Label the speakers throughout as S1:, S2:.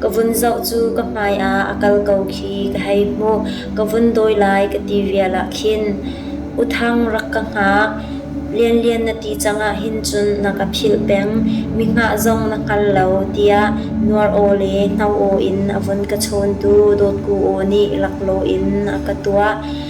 S1: Ka vun zoh cu ka hmai ah a kal ko khi ka hei hmuh. Ka vun dawi lai ka ti vial ah khin, "U Thang rak ka hngak, Lianlian na ti cang ah hin cun na ka philh peng. Mi hngah zong na hngal lo" tiah nuar aw le hno aw in a vun ka chawntu dawtku aw nih laklaw in a ka tuah.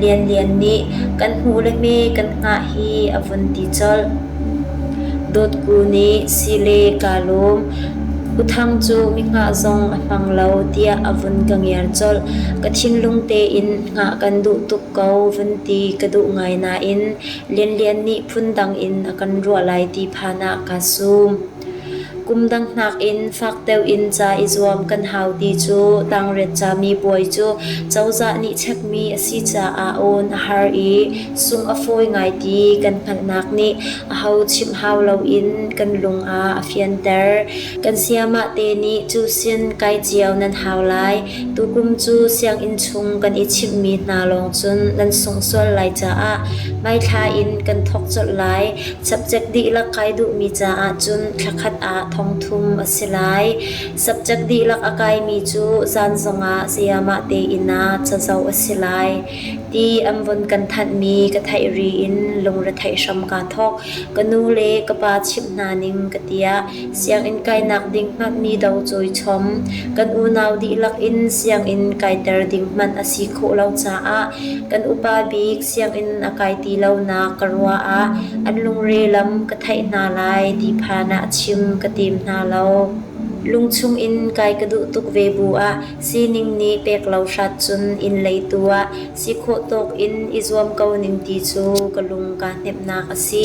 S1: Lianlian nih kan hmu le hme kan hngah hi a vun ti colh. Dawtku nih si le kaa lawm. U Thang cu mihngah zong a hmang lo tiah a vun ka ngiar colh. Ka thinlung tein hngah kan duh tuk ko vun ti ka duh ngai nain Lianlian nih phundang in a kan ruah lai ti phan ah kaa sum. Kum dangnak in fak deuh in ca i zuam kan hau ti cu tangret cami bawi cu cozah nih chekmi a si caah awn a har i sung a fawi ngai ti kan hngalhnak nih aho chimh hau loin kan lung ah a fianter. Kan sayamah te nih cu sin kai cio nan hau lai. Tukum cu sianginn chung kan i chimhmi hna lawng cun nan sungh sual lai caah hmaithla in kan thawk colh lai. Subject dihlak kai duhmi caah cun thla khat ah thongthum a si lai. Subject dihlak a kaimi cu zan zongah sayamah tein ah cazo a si lai. Ti an vun kan thanhmi ka theih ri in lungretheih hram kaa thawk. Ka nu le ka pa chimh hna ning ka tiah sianginn kainak ding hmanmi do cawi chom. Kan unau dihlak in sianginn kaiter ding hmanh a si khawh lo caah kan upa bik sianginn a kai ti lonak ka ruah ah an lungre lam ka theih hna lai ti phan ah chim ka tim hna lo. Lungchung in kai ka duh tuk ve bu ah sining nih pek lo hrat cun inn lei tu ah si khawh tawk in i zuam ko ning ti cu ka lung kaa hnemhnak a si.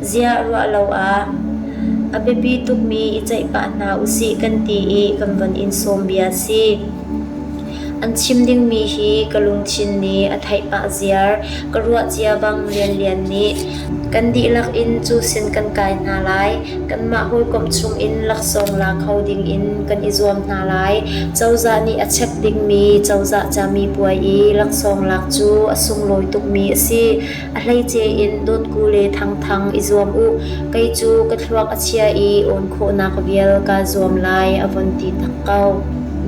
S1: Ziah ruah lo ah a biapi tukmi i ceih pah hna usih kan ti i kan von in sawm bia si. An chim dingmi hi ka lungthin nih a theih pah ziar ka ruah cia bang lianlian nih kan dihlak in cu sin kan kai hna lai kanmah hawikom chung in laksawng la kho ding in kan i zuam hna lai cozah nih a chep dingmi cozah cami puai i laksawng lak cu a sunglawi tukmi a si. A hleice in Dawtku le Thangthang i zuam u, kei cu ka thluak a chia i awn khawhnak vial kaa zuam lai a von ti tak ko.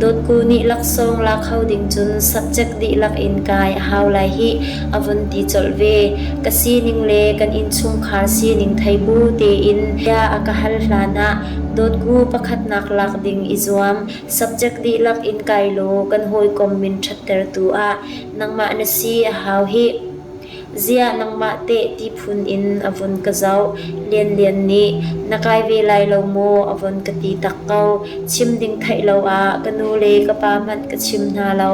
S1: Dawtku nih laksawng la kho ding cun subject dihlak in kai a hau lai hih a von ti colh ve. Ka sining le kan innchungkhar sining thei bu tein bia a ka hal hlan ah Dawtku pakhatnak lak ding i zuam, subject dihlak in kai law kan hawikom min ṭhattertu ah nangmah na si a hau hih. Ziah nangmah teh ti phun in a vun ka zoh. Lianlian nih na kai ve lai lo maw a vun ka ti tak ko. Chim ding theih lo ah ka nu le ka pa hmanh ka chim hna lo.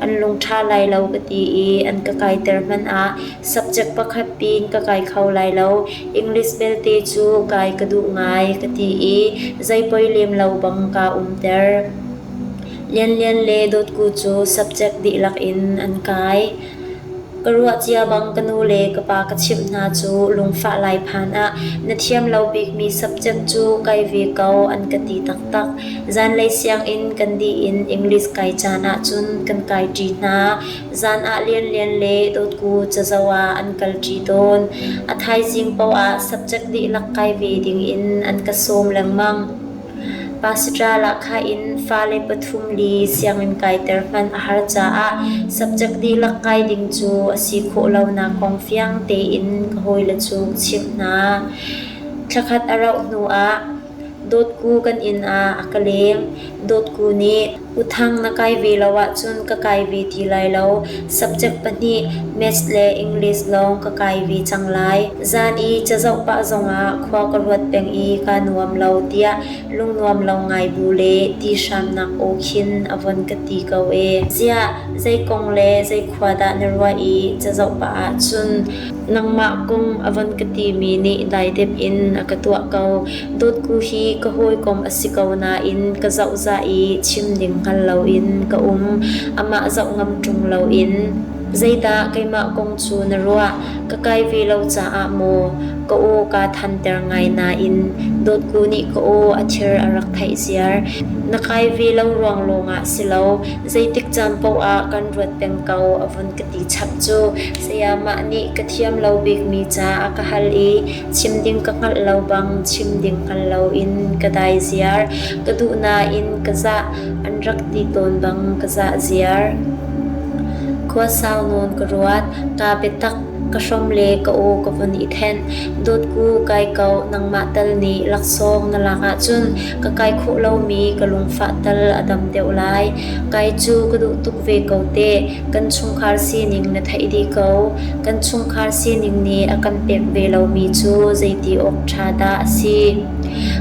S1: An lung ṭha lai lo ka ti i an ka kaiter hmanh ah subject pakhat pin ka kai kho lai lo. English belte cu kai ka duh ngai ka ti i zei poi lem lo bang kaa umter. Lianlian le Dawtku cu subject dihlak in an kai. Ka ruah cia bang ka nu le ka pa ka chimh hna cu lungfah lai phan ah na thiam lo bikmi subject cu kai ve ko an ka ti taktak. Zanlei sianginn kan dih in English kai caan ahcun kan kai ṭi hna. Zan ah lianlian le dotku cazo ah an kal ṭi tawn. A thaizing paoh ah subject dihlak kai ve ding in an ka sawm lengmang. Pasitral ah khah in fale pathum li sianginn kaiter hman a har caah subject dihlak kai ding cu a si khawh lonak kong fiang tein ka hawile cu ka chimh hna. Thla khat a rauh hnuah dawtku kan inn ah a ka leng. Dawtku nih Uthang na kai ve lo ahcun ka kai ve ti lai lo. Subject pahnih Maths le English lawng ka kai ve cang lai. Zan i cazoh pah zongah khua ka ruat peng i kaa nuam lo tiah lungnuam lo ngai bu le ti hramnak aw khin a von ka ti ko ee. Ziah zei kong le zei khua dah na ruah i cazoh pah ahcun nangmah kong a von ka timi nih dai dep in a ka tuah ko. Dawtku hi ka hawikom a si ko nain ka zohzah i chim ding hngal loin ka um. Amah zoh ngam ṭung loin, Zeidah keimah kong cu na ruah? Ka kai ve lo caah maw? Ka aw kaa thanter ngai nain Dawtku nih ka aw a thir a rak theih ziar. Na kai ve lo ruang lawngah si lo, zeitik caan paohah kan ruat peng ko a vun ka ti chap cu. Sayamah nih ka thiam lo bikmi ca a ka hal i Chim ding ka hngalh lo bang chim ding hngal loin ka dai ziar. Ka duh nain ka zah an rak ti tawn bang ka zah ziar. Khua sau nawn ka ruat, ka biatak ka hrom le ka aw ka vun i then. Dawt ku kai kau nangmah tal nih laksawng na lak ahcun ka kai khawh lomi ka lungfah tal a dam deuh lai. Kai cu ka duh tuk ve ko teh. Kan chungkhar sining na theih dih ko. Kan chungkhar sining nih a kan pek ve lomi cu zeiti awk ṭha dah a si?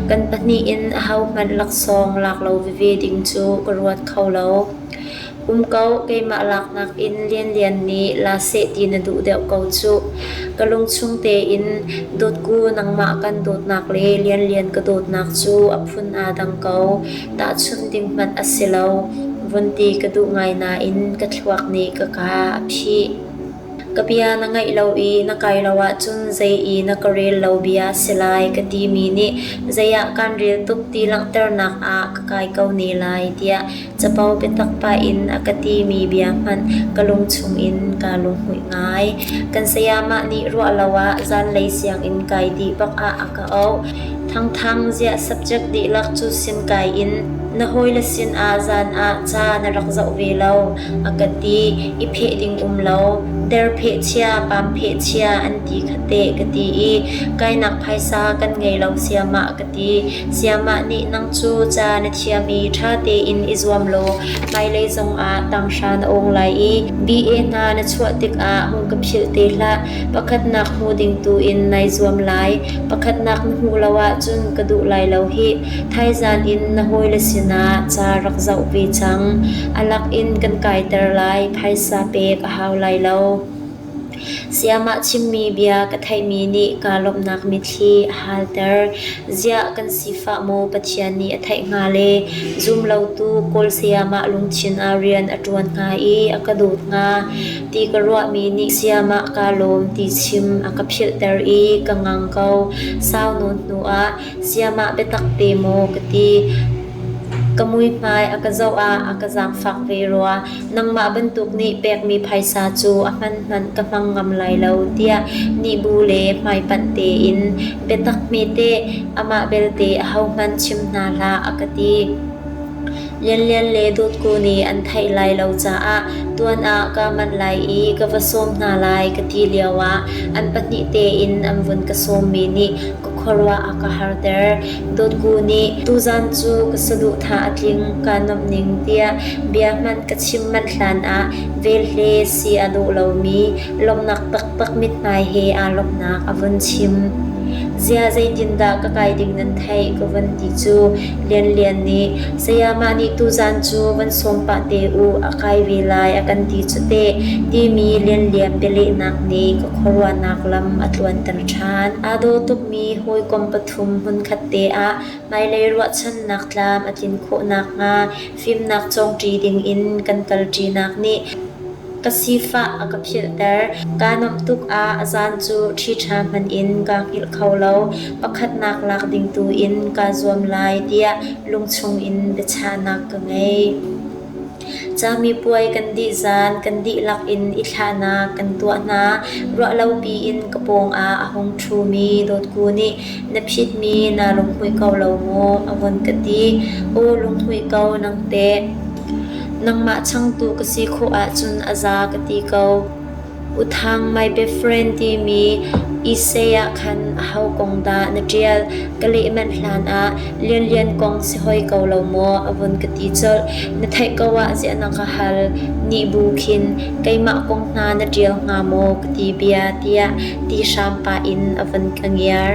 S1: Kan pahnih in ahohmanh laksawng lak lo veve ding cu ka ruat kho lo. Um ko, keimah laknak in Lianlian nih la seh ti na duh deuh ko cuh. Ka lungchung tein dawtku nangmah kan dawtnak le Lianlian ka dawtnak cu a phun aa dang ko. Tahchunh ding hmanh a si lo, vun ti ka duh ngai nain ka thluak nih ka ka a phih. Ka bia na ngaih lo i na kai lo ahcun zei i na ka rel lo bia si lai ka timi nih zeiah kan rel tuk ti langhternak ah ka kai ko ne lai tiah capo biatak pah in a ka timi bia hmanh ka lungchung in kaa lunghmuih ngai. Kan sayamah nih ruah lo ah zanlei sianginn kai dih bak ah a ka a auh. Thangthang ziah subject dihlak cu sim kai in na hawile sinah zan ah ca na rak zoh ve lo a ka ti i pheh ding um lo der pheh chia pam pheh chia an ti khate ka ti i kainak phaisa kan ngei lo siamah ka ti siamah nih nang cu ca na thiam i ṭha tein i zuam law hmailei zongah tanghra na ong lai i BA hna na chuah tikah hung ka philh te hlah Pakhatnak hmu ding tuin nai zuam lai. Pakhatnak na hmuh lo ahcun ka duh lai lo hih. Thaizan in na hawile sinah ca rak zoh ve cang. A lak in kan kaiter lai. Phaisa pek a hau lai lo. Sayamah chimmi bia ka theihmi nih kaa lawmhnak mitthli a halter. Ziah kan sifah maw Pathian nih a theih hnga le zum lotu Kawl sayamah lungthin ah rian a ṭuan hnga i a ka dawt hnga? Ti ka ruahmi nih sayamah kaa lawm ti chim a ka philhter i ka ngang ko. Sau nawn hnuah sayamah biatak te maw ka ti. Ka muihmai a ka zoh ah a ka zaangfak ve rua. Nangmah bantuk nih pekmi phaisa cu a hman hmanh ka hmang ngam lai lo tiah nihbu le hmaipanh tein biatak hmete amah belte ahohmanh chim hna hlah a ka ti. Lianlian le Dawtku nih an theih lai lo caah tuan ah kaa manh lai i ka va sawm hna lai ka ti lioah an pahnih tein an vun ka sawmmi nih ka khuaruah a ka harter. Dawtku nih tuzan cu ka saduh tha a tling kaa nuamh ning tiah bia hmanh ka chim manh hlanah vel he si a dawh lomi lawmhnak taktak mithmai he aa lawmhnak a vun chim. Zia zeitindah ka kai ding nan theih ka vun ti cu Lianlian nih sayamah nih tuzan cu van sawm pah te u a kai ve lai a kan ti cu teh timi lianlian bialehnak nih ka khuaruahnak lam a tluanter ṭhan. Aa daw tukmi hawikom pathum hmunkhat te ah hmailei ruahchannak tlam a tlin khawh nakhnga Fimnak cawngṭi dingin kan kalṭinak nih ka sifah a ka philhter. Kaa nuamh tuk ah a zaan cu ṭhiṭha hmanh in kaa hngilh kho lo. Pakhatnak lak ding tu in kaa zuam lai tiah lungchung in biachahnak ka ngei. Camipuai kan dih zaan kan dihlak in i thlahnak kan tuah hna. Ruahlopi in ka pawng ah a hung ṭhumi dawtku nih Na phitmi naa lunghmuih ko lo maw? a vun ka ti. Aw lunghmuih ko nang teh. Nangmah changtu ka si khawh ahcun a za ka ti ko. U Thang My Best Friend timi Issei ah khan aho kong dah na ṭial? Ka leh manh hlan ah Lianlian kong si hoi ko lo maw? a vun ka ti colh. Na theih ko ah ziah na ka hal? nih bu khin Keimah kong hna na ṭial hnga maw ka ti bia tiah ti hram pah in a van ka ngiar.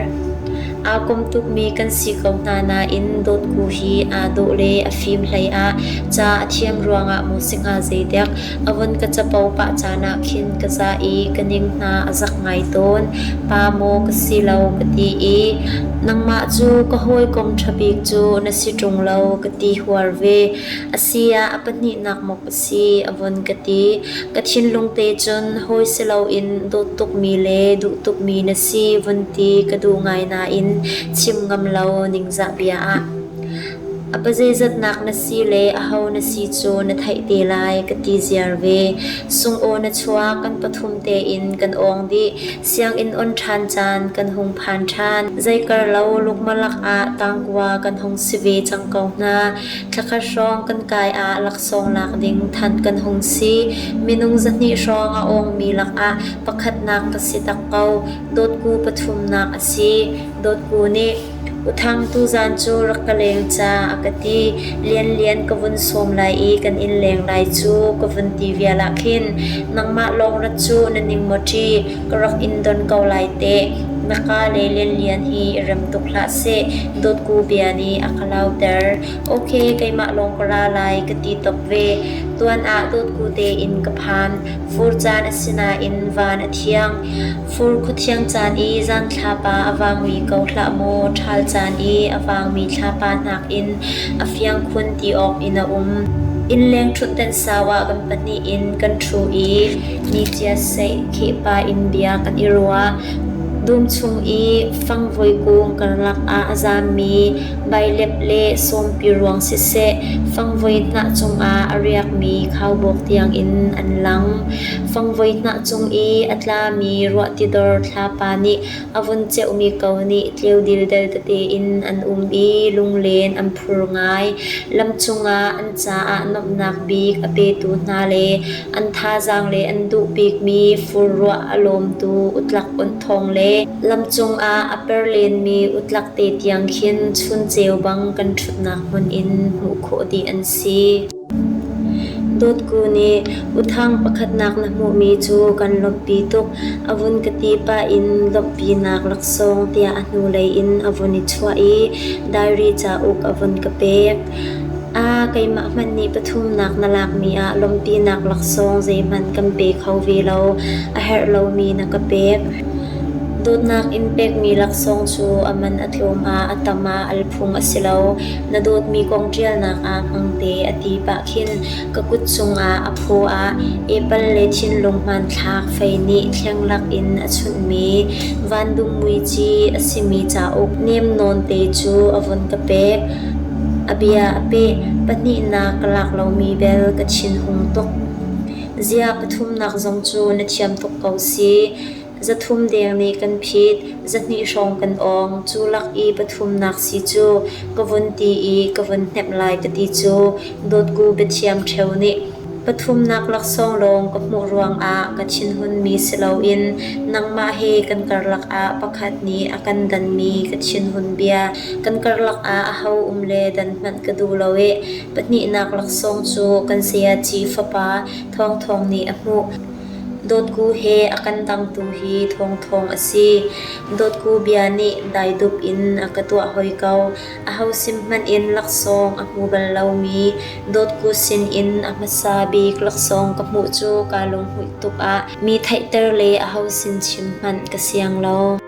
S1: Aa kom tukmi kan si ko hna nain dawtku hi aa dawh le a fim hlei ah ca a thiam ruangah maw si hnga zeidek a von ka capo pah caan ah khin ka ca i ka ning hna a zak ngai tawn. Pa maw ka si lo ka ti i nangmah cu ka hawikom ṭha bik cu na si ṭung lo ka ti huar ve. A si ah a pahnihnak maw Si a von ka ti. Ka thinlung te cun hawi si loin dawt tukmi le duh tukmi na si vun ti ka duh ngai nain chim ngam lo ningzah bia ah. A pazeizatnak na si le a ho na si cu na theih te lai ka ti ziar ve. Sungaw na chuak kan pathum tein kan ong dih. Sianginn on ṭhan caan kan hung phan ṭhan. Zeikar lo lukmalak ah tangkua kan hung si ve cang ko hna. Thlakhat hrawng kan kai ah laksawng lak ding thanh kan hung si. Minung zahnih hrawng a awngmi lakah pakhatnak ka si tak ko. Dawtku pathumnak a si. Dawtku nih Uthang tuzan cu rak ka leng ca a ka ti. Lianlian ka vun sawm lai i kan in leng lai cu ka vun ti vial ah khin nangmah lawng rat cu na ning maw ṭi? ka rak in don ko lai teh. Na ka le Lianlian hi rem tuk hlah seh. Dawtku bia nih a ka lauter. Ok, keimah lawng ka ra lai ka ti tuk ve. Tuan ah dawtku tein ka phan. Fur caan a si nain van a thiang. Fur khu thiang caan i zan thlapa a vangmi ko hlah maw. Ṭhal caan i a vangmi thlapa nakin a fiang khun ti awk in a um. Innleng ṭhutdan sau ah kan pahnih in kan ṭhu i Niciaseih khihpa in bia kan i ruah. Dum chung i fangvoi kung karlak ah a zammi bailep le sawmpi ruang siseh, fangvoi hnah cungah a riakmi khaubawk tiangin an lang. Fangvoi hnah cung i a tlami ruahtidor thlapa nih A vun ceuhmi ko nih tleu dildel tete in an um i lunglen an phur ngai. Lam cungah an caah nuamhnak bik a petu hna le an thazaang le an duh bikmi fur ruah a lawmtu utlak unthawng le lam cungah a per lenmi utlak te tiang khin chun ceu bang kan ṭhutnak hmun in hmuh khawh dih an si. Dawtku nih uthang pakhatnak na hmuhmi cu kan lawmhpi tuk, a vun ka ti pah in lawmhpinak laksawng tiah a hnulei in a vun i chuah i diary cauk a vun ka pek. A keimah hmanh nih pathumnak na lakmi ah lawmhpinak laksawng zeihmanh kan pe kho ve lo, a herh lomi na ka pek. Dawtnak in pekmi laksawng cu a man a tlawm ah a tam ah al phung a si lo. Na dawtmi kong ṭialnak ah hmangte a ti pah khin ka kut cungah a phaw ah apple le thinlung hmanthlak fei nih thlenghlak in a chunhmi vandum muici a simi cauk nem nawnte cu a vun ka pek. A bia a peh, pahnihnak ka lak lomi bel ka thinhung tuk. Ziah pathumnak zong cu na thiam tuk ko si. Zathum deng nih kan phit, zahnih hrawng kan awng. Cu lak i pathumnak si cu ka vun ti i ka vun hnemh lai ka ti cu dawtku biathiam ṭheu nih pathumnak laksawng lawng ka hmuh ruangah ka thinhunmi si loin nangmah he kan karlak ah pakhat nih a kan danmi ka thinhun bia kan karlak ah aho um le dan hmanh ka duh lo i pahnihnak laksawng cu kan sayaci fapa Thawngthawng nih a hmuh. Dawtku he a kan dangtu hi thawngthawng a si. Dawtku bia nih daidup in a ka tuah hoi ko. Aho sim hmanh in laksawng a hmu bal lomi, dawtku sinin a hmasa bik laksawng ka hmuh cu kaa lunghmuih tuk ah mi theihter le aho sim chim hmanh ka siang lo.